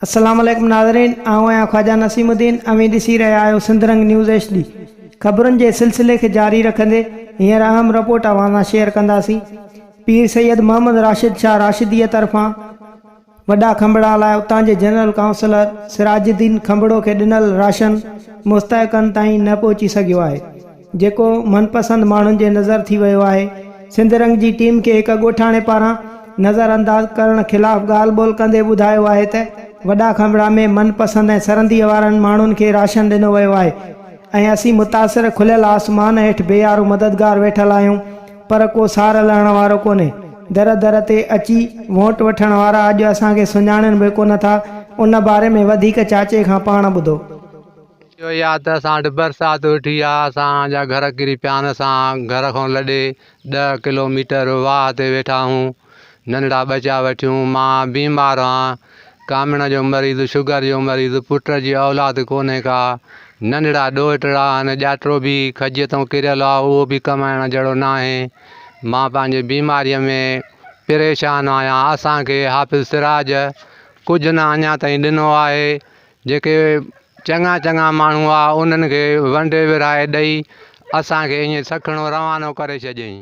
السلام عليڪم ناظرين آئون آهيان خواجا نسيم الدين اوهين ڏسي رهيا آهيو Sindh Rang news H D خبرن جي سلسلي کي جاري رکندي هينئر اهم رپورٽ اوهان سان شيئر ڪنداسين پير سيد محمد راشد شاهه راشديء طرفان وڏا کنڀڙا لاء اتان جي جنرل ڪائونسلر سراج الدين کنڀڙو کي ڏنل راشن مستحقن تائين نه پهچي سگهيو آهي جيڪو من پسند ماڻهن جي نظر ٿي ويو آهي سنڌ رنگ جي ٽيم کي هڪ ڳوٺاڻي پاران نظر انداز ڪرڻ خلاف ڳالهه ٻولهه ڪندي ٻڌايو آهي ته وڏا کنڀڙا ۾ من پسند ۽ سرنديء وارن ماڻهن کي راشن ڏنو ويو آهي ۽ اسين متاثر کليل آسمان هيٺ بي آرو مددگار ويٺل آهيون پر ڪو سار لهڻ وارو ڪونهي. در در تي اچي ووٽ وٺڻ وارا اڄ اسان کي سڃاڻين به ڪونه ٿا. ان باري ۾ وڌيڪ چاچي کان پاڻ ٻڌو. اهو ئي آ ته اسان وٽ برسات ويٺي آ، اسان جا گهر ڪري پيا آهن، اسان گهر کان لڏي ڏهه ڪلو ميٽر واهه تي ويٺا آهيون، ننڍڙا ٻچا وٺيون، مان بيمار آهان، ڪامڻ جو مريض، شگر جو مريض، پٽ جي اولاد ڪونهي ڪا، ننڍڙا ڏوهٽڙا آهن، ڄاٽڙو به کجيء تئون ڪريل آ، اهو به ڪمائڻ جهڙو ناهي. مان پنهنجي بيماريء ۾ پريشان آهيان. اسان کي حافظ سراج ڪجهه نه اڃا تائين ڏنو آهي. جيڪي چڱا چڱا ماڻهو آ، انهن کي ونڊي ورهائي ڏئي، اسان کي ائين سکڻو روانو ڪري ڇڏيائين.